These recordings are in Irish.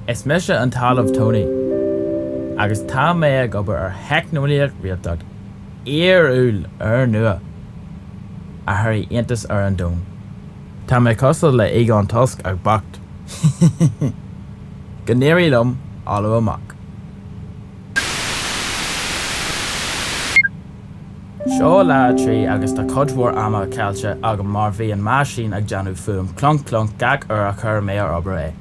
Is mise an tOllamh Tony agus tá mé ag obair ar theicneolaíocht réaltacht fhíorúil úrnua a thabharfaidh iontas ar an domhan. Tá mé cosúil le Egon Tusk ach bocht. Go n-éirí liom Ollamh amach. Seo lá a trí agus tá cuid mhór ama caillte agam mar bhí an meaisín ag déanamh fuaim clunk clunk gach uair a chuir mé ar obair é.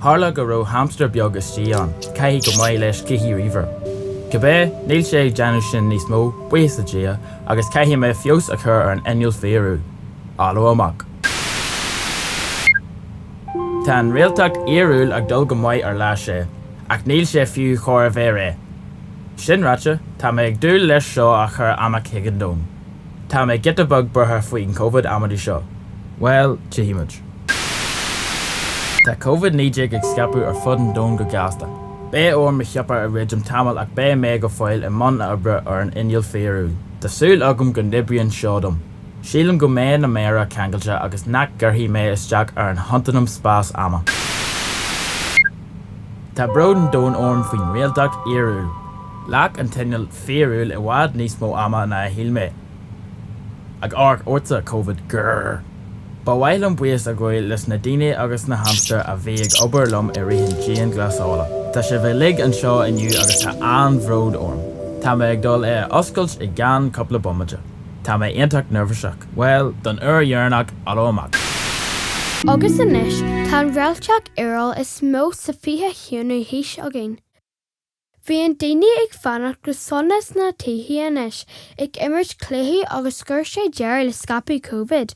Tharla go raibh hamstar beag istigh ann, caithfidh go maith leis cluichí ríomhaire. Cibé, níl sé ag déanamh sin níos mó, buíochas le Dia, agus caithfidh mé feabhas a chur ar an inneall fíorúil. Ollamh amach. Tá an réaltacht fhíorúil ag dul go maith ar lá sé, ach níl sé fiú chóir a bheith réidh. Sin ráite, tá mé ag dúil leis seo a chur amach chuig an domhan. Tá mé giota beag buartha faoin Covid amaidí seo. Bhuel, tchífimid. Tá Covid 19 ag scaipeadh ar fud an domhain go gasta. Beidh orm mo shiopa a dhruidim tamall ach beidh mé go fóill i mbun a oibre ar an inneall fíorúil. Tá súil agam go n-oibríonn seo dom. Sílim go mbeidh na méara ceangailte agus nach gcuirfidh mé isteach ar an chontanam spás-ama. Tá bród an domhain orm faoin réaltacht fhíorúil. Ghlac an t-inneall fíorúil i bhfad níos mó ama ná a shíl mé. Ag amharc ortsa, covid, grr. Ba mhaith liom buíochas a ghabháil leis na daoine agus na hamstair a bhí ag obair liom i rith an dianghlasála. Tá sibh uilig anseo inniu agus tá an-bhród orm. Tá mé ag dul é a oscailt i gceann cúpla bomaite. Tá mé iontach neirbhíseach. Bhuel, don uair dheireanach, Ollamh amach! Agus anois tá an réaltacht fhíorúil is mó sa 21ú haois againn. Bhíonn daoine ag fanacht go sona sna tithe anois ag imirt cluichí agus chuir sé deireadh le scaipeadh Covid.